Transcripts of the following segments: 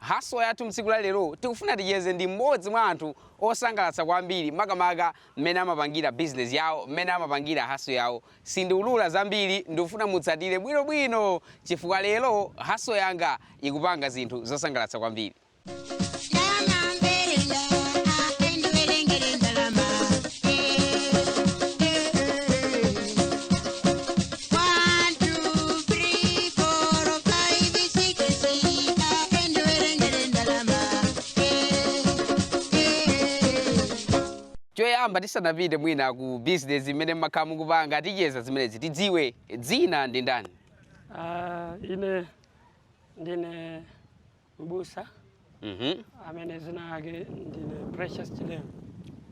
Hustle yathu mtsiku la lero tikufuna ticheze ndi m'modzi mwa anthu osangalatsa kwambiri makamaka m'mene amapangira business yawo, m'mene amapangira hustle yawo. Sindiulura zambiri ndikufuna mutsatire bwino bwino chifukwa lero hustle yanga ikupanga zinthu zosangalatsa kwambiri. choyamba tisanapite mwina ku business imene mmakhala mukupanga ticheza zimenezi tidziwe dzina ndi ndani Ah, ine ndine mbusa Mhm. amene dzina lake ndine precious chilewe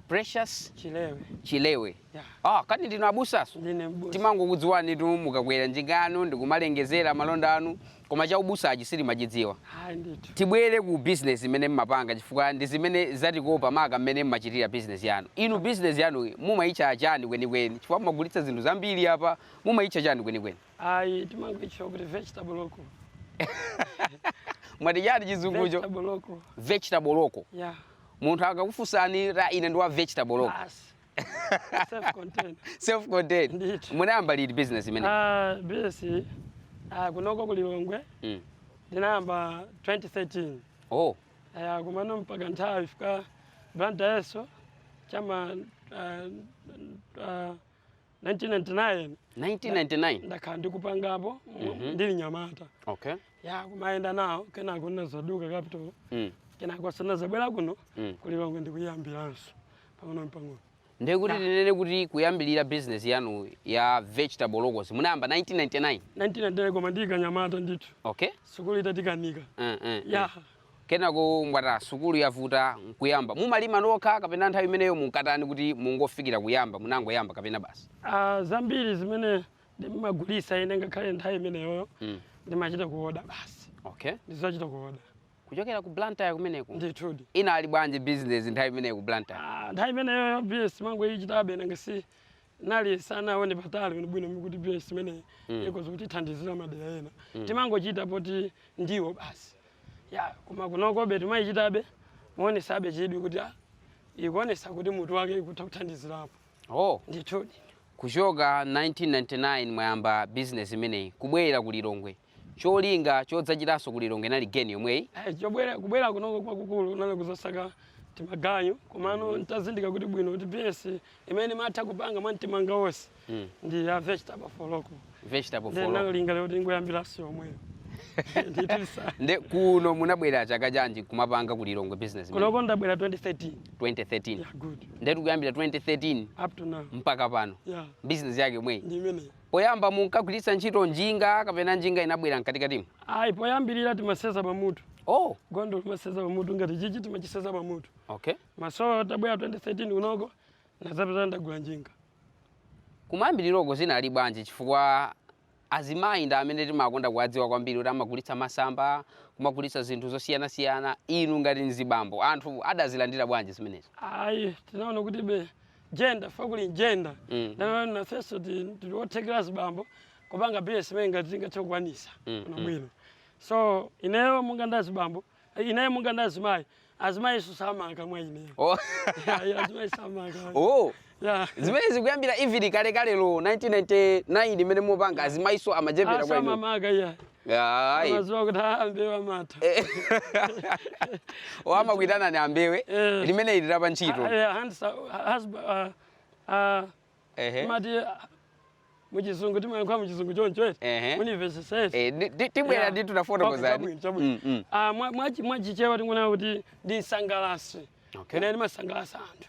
Precious chilewe Chilewe. ya Ah, kani ndinu abusaso? ndine mbusa timangokudziwanitu mukakwera njinga yanu ndikumalengezera malonda anu koma cha ubusachi sitimachidziwa ayi ndithu tibwere ku bizinesi imene mmapanga chifukwa ndi zimene zatikopa maka mmene mmachitira bizinesi yanu inu bizinesi yanu mumayitcha chani kwenikweni chifukwa mumagulitsa zinthu zambiri yapa mumayitcha chani kwenikweni Ayi, timangoitchula kuti vegetable local. mwati chani chizungucho Vegetable local. vegetable local Yeah. munthu akakufunsani ra ine ndi wa vegetable local Basi. Self contained. self contained Ndithu. munayamba liti business imene Ah, business ah, kunoko ku Lilongwe mm. ndinayamba 2013. oh Aya kumano mpaka nthawi fika Blantyre yeso chama ah, ah, 1999 1999 ndakhala ndikupangapo mu- Mhm. ndili mnyamata okay ya kumayenda nawo kenako ndinadzaduka capital mm. kenakonso ndinadzabwera kuno Mm. ku Lilongwe ndikuyambiranso pang'ono pang'ono ndiye kuti tinene kuti kuyambirira business yanu ya vegetable locals munayamba 1999 1999 koma ndili kamnyamata ndithu okay sukulu itatikanika mm, mm, mm. ya Kenako mwati ah sukulu yavuta nkuyamba. Mumalima nokha kapena nthawi imeneyo munkatani kuti mungofikira kuyamba, munangoyamba kapena basi? A, zambiri zimene ndimagulitsa ine ngakhale nthawi imeneyoyo ndimachita kuoda basi. Okay. Ndizachita kuoda. Kuchokera ku Blantyre kumeneko? Ndithudi. Inali bwanji bizinezi nthawi imeneyo ku Blantyre? A, nthawi imeneyoyo bizinesi timangoichitabe nanga si tinali tisanaone patali bwinobwino kuti business imeneyi Mm. ikhoza kutithandizira madera ena Mm. timangochita poti ndiwo basi ya koma kunokobe timayichitabe moonesabe chidwi kuti ah, ikuonesa kuti mutu wake ikutha kuthandizirapo oh ndithudi kuchoka 1999 mwayamba business imeneyi kubwera ku lilongwe cholinga chodzachitanso ku Lilongwe inali geni yomweyi? Ayi, chobwera kubwera kunoko kwakukulu kunali kuzasaka timaganyo komano mm. ntazindikira kuti bwino kuti business imene matha kupanga mwa mtima wanga wonse mm. ndi ya vegetable for local vegetable for local ndinalinga lero tingoyambiranso yomweyo nde kuno munabwera chaka chanji kumapanga ku Lilongwe business kunoko ndabwera 2013 2013 yeah, good ndetu kuyambira 2013 up to now mpaka pano yeah. business yake yomweyi ndi imeneyi Poyamba munkagwiritsa ntchito njinga kapena njinga inabwera mkatikatimu? Ayi, poyambilira timaseza pamutu. Oh. Gondwe timaseza pamutu ngati chichi timachiseza pamutu. Okay. Masowa tabwera 2013 kunoko nazapeza ndagula njinga. Kumayambiliroko zinali bwanji chifukwa azimayi ndi amene timakonda kuwadziwa kwambiri kuti amagulitsa masamba, kumagulitsa zinthu zosiyanasiyana, inu ngati mzibambo anthu adazilandira bwanji zimenezi? Ayi, tinaona kuti be gender fa kuli gender Mm. nde nafeso ti- tili othekera zibambo kupanga business imene ngati tingathe kukwanisa Mm, kuno mm. bwino so ineyo munga nda zibambo eh, ineyo munga nda azimayi azimayiso samanga mwa ineyo Oh. Ya, ya, azimayi samanga mwa- oh. Ya. zimenezi kuyambira even kalekalelo 1999 imene mupanga azimayiso amachepera kwa inu asamamaka iya Ayi. amaziwa kuti ambewe amatha amakuitana ni ambewe Eh. limene ili lapa ntchito Ah, eh, handsa- ah, husba- ah, ah, Ehe. timati ah, muchizungu timayankhula muchizungu choncho eti Ehe. muuniversity Eh, ndi- ndi- tibwera Yeah. ndi Okay, tunafotokozani chabwino, chabwino. Mm, mm. Ah, mwa- mwachi- mwachichewa tingonena kuti ndi nsangalasi Okay. ine ndimasangalasa anthu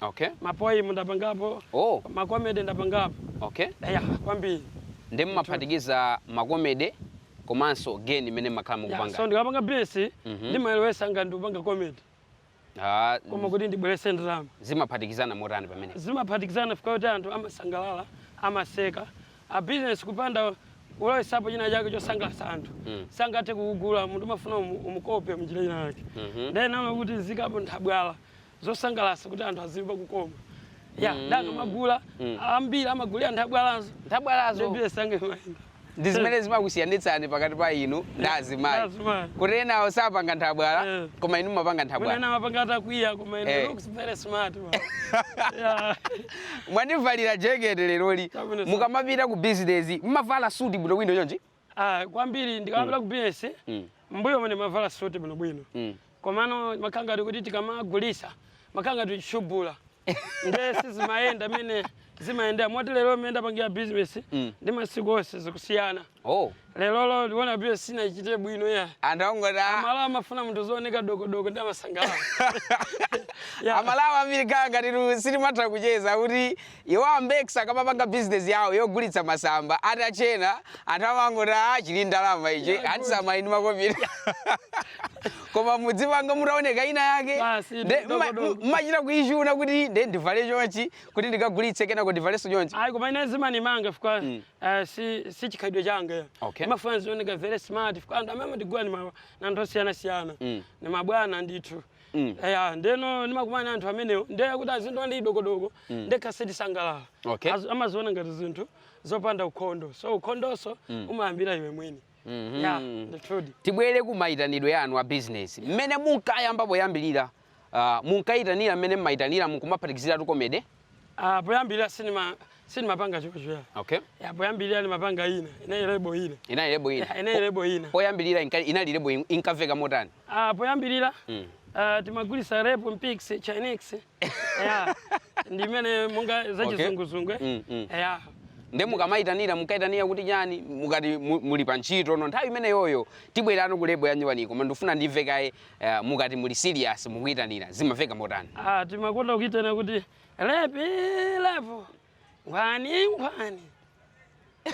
Okay. Ma poem ndapangapo, Oh, ma comedy ndapangapo. okay. Eya, kwambiri. Ndi mumaphatikiza makomede komanso geni imene makhala Yeah, so mukupanga. ndikapanga business Mhm. ndimayelowesa ngati ndikupanga comedy. Ah, Koma kuti ndibwerese ndalama. zimaphatikizana motani pamene? zimaphatikizana fika kuti anthu amasangalala amaseka a business kupanda kulowesapo china chake chosangalatsa anthu Mm. sangathe kukugula munthu umafuna umu- umukope mnjira china yake Mhm. nde ndinaona kuti nziikapo nthabwala zosangalasa kuti anthu azimva kukoma ya mm. nde akamagula mm. ambiri amagulira nthabwalazo nthabwalazo nde business yanga imayenda ndi zimene zimakusiyanitsani pakati pa inu ndi azimayi kuti enawo sapanga nthabwala eh. koma inu mumapanga nthabwala eh. mwandivalira jekete leroli mukamapita ku bizinesi mumavala suti bwinobwino chonchi Ah, kwambiri mm. ndikamapita mm. ku business mm. mbuyo mene mavala suti bwino bwino mm. komano makhala ngati kuti tikamagulisa makhala ngati tishubula nde sizimayenda mene zimayenda moti lero mene ndapangira business mm. ndi masiku onse zikusiyana oh. lerolo ndiona business sinachite bwino ya andangota ah. amalawa amafuna munthu azioneka dokodoko ndi amasangalala yeah. amalawa ambiri kaya ngati sitimatha kucheza kuti Iwo a Mbex akamapanga business yawo yogulitsa masamba atatchena anthu amangoti aah chili ndalama ichi handsome ali ndi makopala koma mudzipanga mutaoneka ina yake Basi, nde mma- dogodogo. mmachita kuichuna kuti nde ndivale chonchi kuti ndikagulitse kenako ndivalenso chonchi ayi koma ine zimanimanga fika eh, si si chikhalidwe changa Okay. imafuna zioneka very smart fika anthu amene amatigula ni ma- na anthu osiyanasiyana ni mabwana ndithu Mm. eya ndeno ndimakumana ndi anthu amenewo ndiye kuti azindiona ndi dokodoko Mm. ndekha sindisangalala Okay. Azi- amaziona ngati zinthu zopanda ukhondo so ukhondonso Mm. umayambira iwe mwini Mhm. ya ndithudi tibwere ku mayitanidwe yanu a bizinesi mmene munkayamba poyambirira ah, munkayitanira mmene mmayitanira mukumaphatikiziratu komede Ah, poyambirira sinima sinimapanga chocho. Okay. Ya poyambirira nimapanga ina. Inali lebo ina. Inali lebo ina. Ya, inali lebo ina. Poyambirira inka- inali lebo in- inkaveka motani. Ah, poyambirira Mm. ah, timagulisa rape mpix chinix. Ya. Ndi imene monga Okay. zachizunguzungu. Mm, mm. Ya. Nde mukamayitanira munkaitanira kuti chani mukati mu- muli pa ntchito no nthawi imeneyoyo tibwerano ku lebo yanyuwani koma ndifuna ndimve kaye Eh, mukati muli serious mukuitanira zimaveka motani? Ah, timakonda kuitana kuti lepu lepu nkhwani nkhwani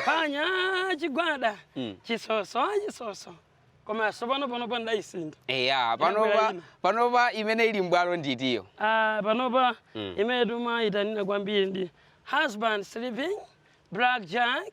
phwanya chigwada Mm. chisoso chisoso koma sopano panopa ndaisintha Eya, panopa Inabwera ina. panopa imene ili mbwalo ndi itiyo. Ah, panopa Mm. imene timayitanira kwambiri ndi husband sleeping black jack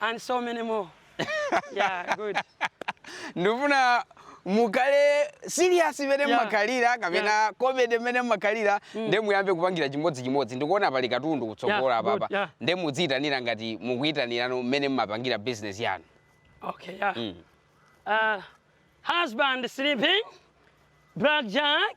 and so many more. yeah, good. ndifuna mukhale serious imene Yeah. mmakhalira kapena Yeah. comedy imene mmakhalira nde muyambe kupangira chimodzimodzi ndikuona pali katundu kutsogola Yeah, good, apapa yeah. nde mudziyitanira ngati mukuyitanirano mmene mmapangira business yanu Okay, yeah. Mm. Uh, husband sleeping, blackjack,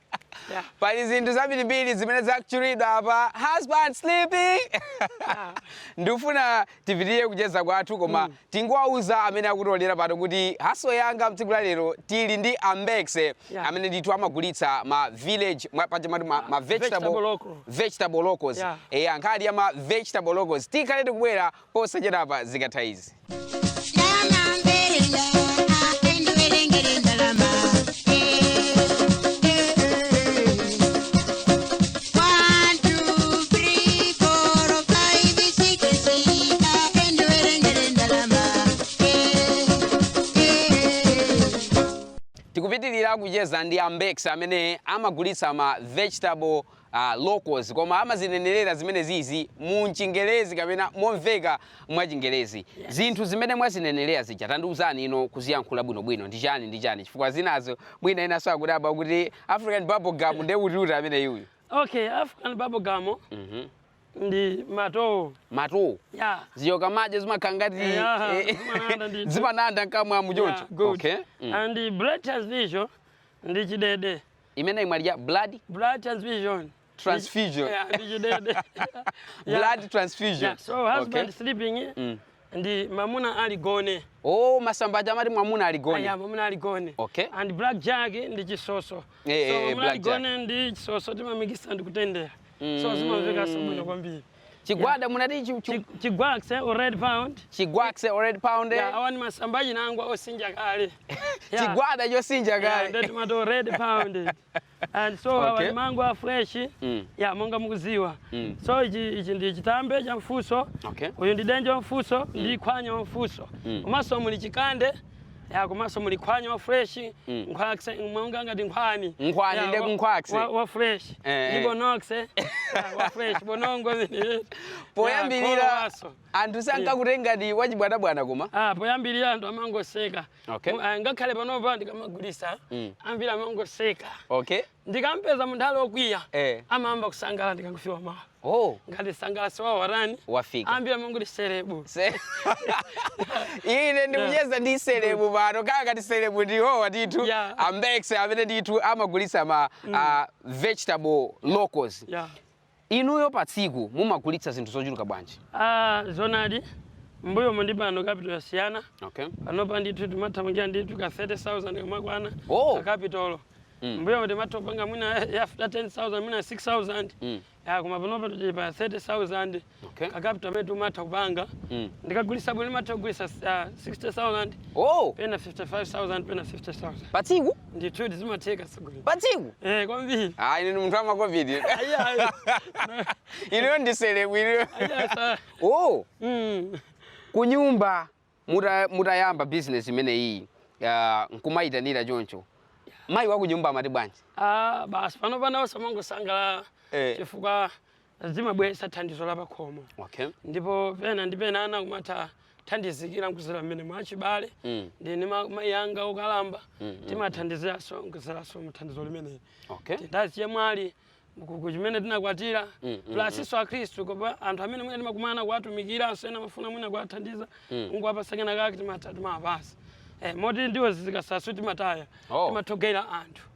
Yeah. pali zinthu zambirimbiri zimene zikutchulidwa apa husband sleeping Yeah. ndikufuna tipitirize kucheza kwathu koma tingowauza amene akutionera pano kuti Hustle yanga mtsiku la lero tili ndi a Mbex Yeah. amene ndithu amagulitsa ma village mwa- paja mmati ma, ma vegetable, Vegetable local. vegetable locals Yeah. eya nkhani ya ma vegetable locals tikhale tikubwera posachedwapa zikatha izi. tikupitiriza kucheza ndi a Mbex amene amagulitsa ma vegetable locals koma amazinenerera zimenezizi mu Chingerezi kapena momveka mwa chingerezi Yes. zinthu zimene mwazinenerera zija tandiuzani ino kuziyankhula bwinobwino ndi chani ndi chani chifukwa zinazo mwina enaso akudabwa kuti african bubblegum nde kutiuti ameneyuyu okay african bubblegum Mhm. ndi matowo matowo ya zija ukamadya zimakhala ngati Yeah, eh, zimananda ndithu. zimananda mkamwamu choncho Yeah, good. okay mm. and the blood transfusion ndi chidede imene imafiira blood blood transfusion transfusion yeah, ndichidede yeah. blood transfusion yeah. so husband okay. sleeping eh? mm. ndi mamuna ali gone oh masamba aja amati mwamuna ali gone yeah, mwamuna ali gone okay and black jack ndi chisoso hey, eh, so eh, mwamuna ali gone ndi chisoso timamikisa ndi kutendera mm. so zimamvekaso bwino kwambiri chigwada munati chi- chi- Chi- Chigwaxe or red pound. chigwaxe or red pound Yeah, awa ni masamba a chinangwa osinja kale. Yeah. chigwada chosinja Yeah, kale nde timato red pound. And so awa Okay. ni mango a fresh. Mm. Yeah, monga mukuziwa. Mm. So ichi ichi ndi chitambe cha mfuso. Okay. Uyu ndi denje wa mfuso, ndi khwanya wa mfuso. Mm. Komanso muli chikande ya komanso muli khwanya wa fresh Mm. nkhwakse monga ngati nkhwani Nkhwani Ya, nde wa- kunkhwakse. wa- wa fresh Eh, eh. ndi bonokse Ya, wa fresh bonongo zini poyambirira anthu sankakutengani ngati wachibwanabwana koma Ah, poyambirira anthu amangoseka Okay. Mu- ah, ngakhale panopa ndikamagulisa Mm. ambiri amangoseka okay Ndikampeza munthu ali okwiya Eh. amayamba kusangala ndikangofikamo. Oh. Ngati msangalatsi wawo watani? Wafika. Ambiri amangoti serebu. Se- ine ndikucheza ndi selebu pano kapena kuti selebu ndiwo wathu Yeah. a Mbex amene ndithu amagulitsa ma ah, vegetable locals Yeah. Inuyo pa tsiku mumagulitsa zinthu zochuluka bwanji? A, zoonadi, m'mbuyomu ndi pano capital yasiyana. Okay. Panopa ndithu timathamangira ndithu ka 30,000 kamakwana Oh. ka capital. Mm. M'mbuyomu timatha kupanga mwina ya after 10,000 mwina 6,000. Mm. Ya koma panopa tili pa 30,000 Okay. ka capital amene timatha kupanga. Mm. Ndikagulitsa bwino ndimatha kugulitsa ah, 60,000 Oh, pena 55,000 pena 50,000. pa tsiku? Ndithudi zimatheka atsogoleri. pa tsiku Eh, kwambiri. ah ine ndi munthu wa makovid Ayi, ayi. ineyo ndi selebu ineyo Ayi, ayi, sa- oh Mm. kunyumba muta- mutayamba business imeneyi ah, nkumayitanira choncho mayi wa kunyumba amati bwanji Ah, basi pano panoso amangosangalala Eh. chifukwa zimabweretsa thandizo la pakhomo Okay. ndipo pena ndi pena ana kumathandizikira kudzera mmenemu achibale Mm. ndi ndi ma- mayi anga okalamba timathandiziranso kudzeranso muthandizo limeneli Okay. ndi azichemwali kuchimene tinakwatira Mm, mm, plasinso akhristu kapena anthu amene mwina timakumana kuwatumikiranso ena amafuna mwina kuwathandiza nkuwapasa kena kake timatha timawapasa Eh, moti ndiwo zikatsala sitimataya Oh. timathogawira anthu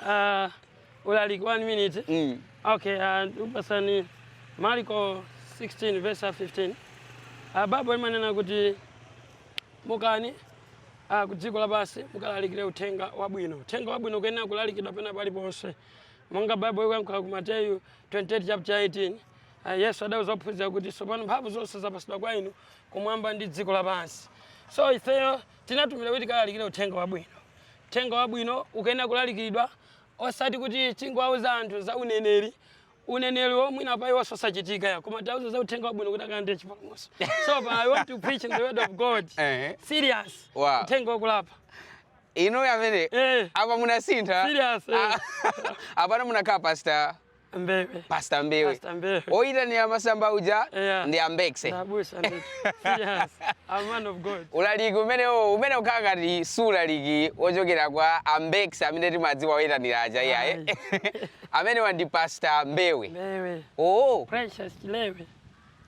Ah, ulaliki one minute Mm. okay ah, ndikupasani marko 16 verse 15 ah, baibulo limanena kuti mukani ah, ku dziko lapansi mukalalikire uthenga wabwino uthenga wabwino ukuyenera kulalikidwa pena paliponse monga baibulo ikuyankhula ku mateyu 28 chapter 18 ah, yesu adauza ophunzira kuti tsopano mphamvu zonse zapatsidwa kwa inu kumwamba ndi dziko lapansi so ifeyo tinatumidwa kuti tikalalikire uthenga wabwino Uthenga Wabwino ukuyenera kulalikidwa osati kuti tingowauza anthu za uneneri, uneneriwo mwina pa iwenso osachitika ya koma tiwauze za Uthenga Wabwino kuti akalandire chipulumutso. So pa I want to preach in the word of God. Ehe. Serious. Wow. Uthenga wokulapa. inu amene Eh. apa munasintha Serious, eh. Ah, apano munakhala pastor Mbewe. pasta mbewe Pastor Mbewe. oyitanira masamba uja Yeah. ndi ambekse Ndi abusa ndi. Yes. A man of God. ulaliki umenewo umene ukukhala ngati si ulaliki wochokera kwa ambekse amene timadziwa oyitanira aja iyaye amenewa ndi pasta mbewe Mbewe. oo Precious Chilewe.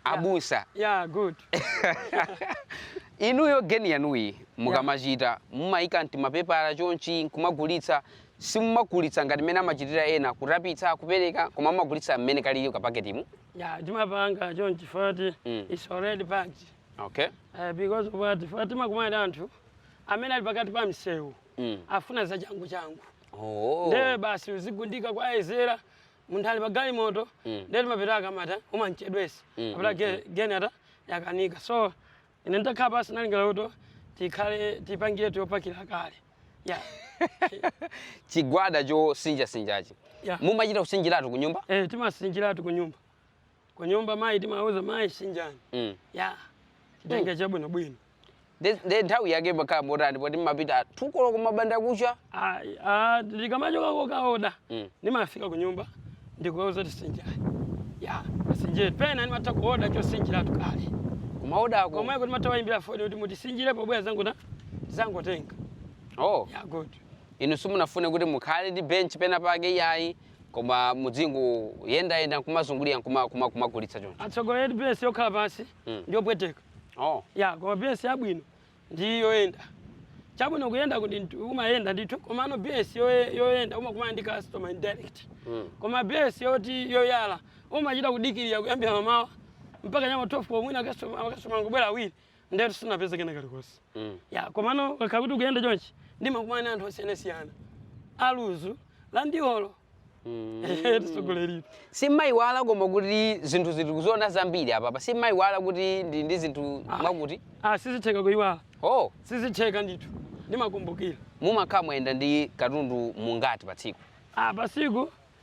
abusa yeah good inuyo geni yanuyi mukamachita mumayika mtimapepala chonchi nkumagulitsa simumagulitsa ngati mmene amachitira ena kutapitsa kupereka koma mumagulitsa mmene kalili kapaketimu yeah timapanga chonchi poti Mm. it's already packed okay uh, because of what poti timakumana anthu amene ali pakati pa msewu mm. afuna za changu changu oh. nde iwe basi uzigundika kwa ezera munthu ali pa galimoto Mm. ndiye timapita akamata umamchedwesa Mm, apita mm, ge- geni ata yakanika so ine nditakhala pasi nalingala kuti tikhale tipangire choyipakira kale ya chigwada chosinjasinjachi Yeah. mumachita kusinjiratu ku nyumba eh timasinjiratu ku nyumba kunyumba mayi timauza mayi sinjani Mm. ya chitenga chabwinobwino Nde- nde nthawi yake imakhala motani poti mmapita tukolo kum'bandakucha Ayi, ah, ndikamachoka kokaoda Mm. ndimafika ku nyumba ndikuwauza tisinjani ya asinjire pena ndimatha kuoda chosinjiratu kale kumaodako komweko ndimatha wayimbira foni kuti mutisinjire pobwera zanguta zangotenga oh. ya good inu simunafune kuti mukhale ndi bench pena pake iyayi koma mudzingoyendayenda nkumazungulira nkuma- kuma- kumagulitsa choncho atsogoleri eti bs yokhala pansi Mm. ndiyopweteka oh. ya koma bs yabwino ndi yoyenda chabwino kuyenda kuti ndi- umayenda ndithu komano bs yoye- yoyenda umakumana ndi customer indirect mm. koma bs yoti yoyala umachita kudikirira kuyambira mamawa mpaka m'ma 12 kwa mwina akastoma akastoma angobwera awiri ndiyetu sinapeze kena kalikonse mm. ya komano ukakhala kuti ukuyenda chonchi ndimakumana ndi anthu osiyanasiyana aluzu landiolo mm. tsogoleri simmayiwala koma kuti zinthu zoti kuziona zambiri apapa simmayiwala kuti ndi ndi zinthu ah. mwakuti ah, sizitheka kuyiwala oh. sizitheka ndithu ndimakumbukira mumakhala mwayenda ndi katundu mungati pa tsiku ah, pa tsiku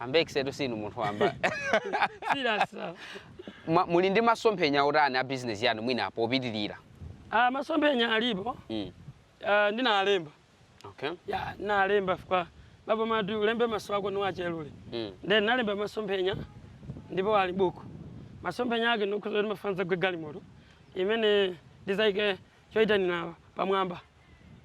Ambex-tu sinu munthu wamba serious Ma- muli ndi masomphenya otani a bizinesi yanu mwina popitirira ah, masomphenya alipo mm. ah, ndinalemba okay. ya nalemba fika baba mati ulembe maso ako niwachelule mm. then nalemba masomphenya ndipo ali buku masomphenya ake ndikukhuza kuti mafuna nzagule galimoto imene ndizayike choyitanira pamwamba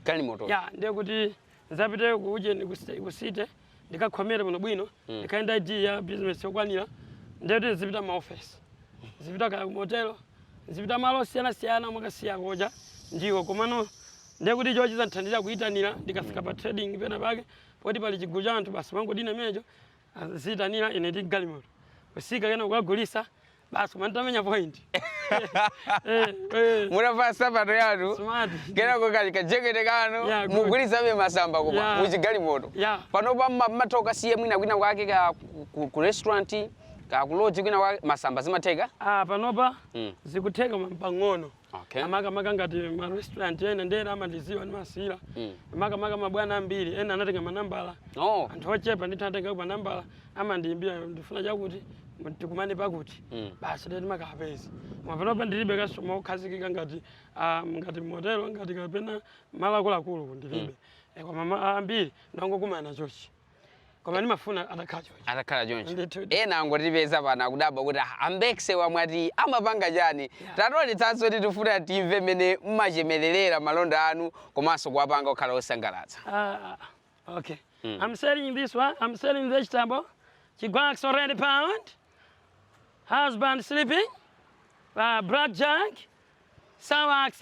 galimoto ya ndiye kuti nzapite kuujeni ku city ndikakhomere bwinobwino mm. ndikhale ndi id ya business yokwanira ndiye kuti ndizipita maofesi ndizipita kaya kumotelo ndizipita malo osiyanasiyana mwakasiya koja ndiwo komano ndiye kuti icho chizandithandira kuyitanira ndikafika mm. pa trading pena pake poti pali chigulu cha anthu basi n'kungodina imenecho ziyitanira ine ndi galimoto kutsika kena kukagulitsa basi koma mutamenya point Eh, eh, mutavala nsapato yanu smart kenako kali kajekete kanu Yeah, good. mukugulitsabe masamba koma Yeah. muchigalimoto Yeah. panopa mma- mmatha kukasiya mwina kwina kwake kaya ku- ku- ku- restaurant kaya ku lodge kwina kwake masamba zimatheka ah panopa Mm. zikutheka pang'ono Okay. makamaka ngati ma restaurant ena ndi ena amandiziwa ndimawasiyira Mm. makamaka mabwana ambiri ena anatenga manambala Oh. anthu ochepa ndithu anatenga manambala amandiyimbira ndifuna chakuti tikumane pakuti Mm. basi ndiye timakapezana koma panopa ndilibe customer okhazikika ngati ah, ngati motelo ngati kapena malo akuluakulu ndilibe Eh, koma ma- ambiri ndimangokumana chonchi koma ndimafuna atakhala choncho atakhala choncho Ndithu. ena angotipeza pano akudabwa kuti "Ah, a Ambex amene mwati amapanga chani tatiwonetsaniko kuti tifuna timve mmene mmachemererera malonda anu komanso kuwapanga okhala osangalatsa Ah, ah, okay. I'm selling this one. I'm selling vegetable. Chigwax already pound. Husband sleeping. Uh, blackjack. Sawax.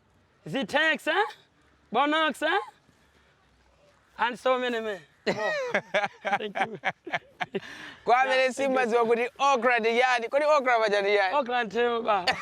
Zitex, eh? Bonox, eh? And so many men. Thank you. kwa amene simadziwa kuti okra ndi chani kodi okra paja ndi chani Okra ndi therere lobala.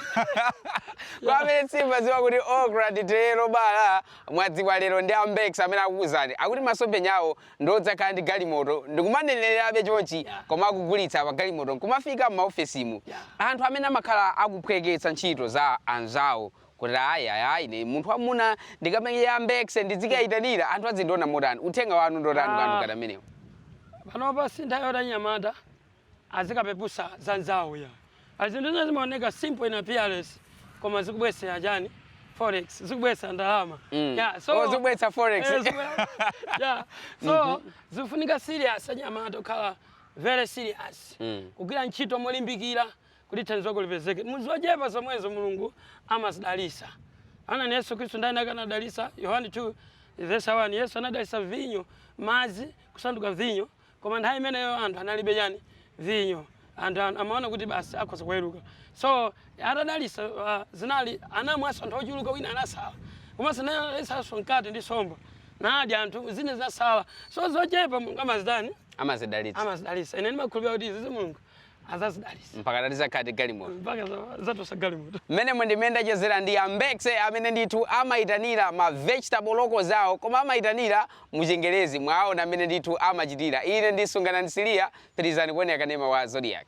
kwa amene simadziwa kuti okra ndi therere lobala mwadziwa lero ndi ambex amene akukuuzani akuti masomphenya awo ndi odzakhala ndi galimoto ndikumanenererabe chonchi koma akugulitsa pa galimoto nkumafika m'maofesimu anthu amene amakhala akuphweketsa ntchito za anzawo kuti ayi ayi ayi ine munthu wamuna ndikamenya ambekse ndidzikayitanira anthu azindiona motani uthenga wanu ndotani kwa anthu Ah. ngati amenewo panopa si nthawi yoti anyamata azikapeputsa za anzawo ya zinthu zina zimaoneka simple in appearance koma zikubwesera chani forex zikubwetsa ndalama Mm. Yeah, Oh, zikubwetsa forex. Eh, zikubwe- yeah. so zifunika serious anyamata okhala very serious Mm. kugwira ntchito molimbikira Kuti thandizo lako lipezeke mu zochepa zomwezo Mulungu amazidalitsa. Taonani Yesu Khristu nthawi inayake anadalitsa Yohane 2 vesi 1 Yesu anadalitsa vinyo, madzi kusanduka vinyo koma nthawi imeneyo anthu analibe chani? Vinyo. Anthu an- amaona kuti basi akhoza kuweruka. So atadalitsa uh, zinali anamwanso anthu ochuluka wina anasala. Komanso anadalitsanso mkate ndi somba. Nadya anthu zina zinasala. So zochepa Mulungu amazitani? amazidalitsa. amazidalitsa ine ndimakhulupirira kuti izizi mulungu azazidalisa mpaka ta- tizakhala ndi galimoto mpaka za- zatosa galimoto mmenemo ndi mmene ndachezera ndi ambekse amene ndithu amayitanira ma vegetable loko zawo koma amayitanira muchengerezi mwaona mmene ndithu amachitira ine ndi Sunganani Siliya pitirizani kuonera kanema wa zodiac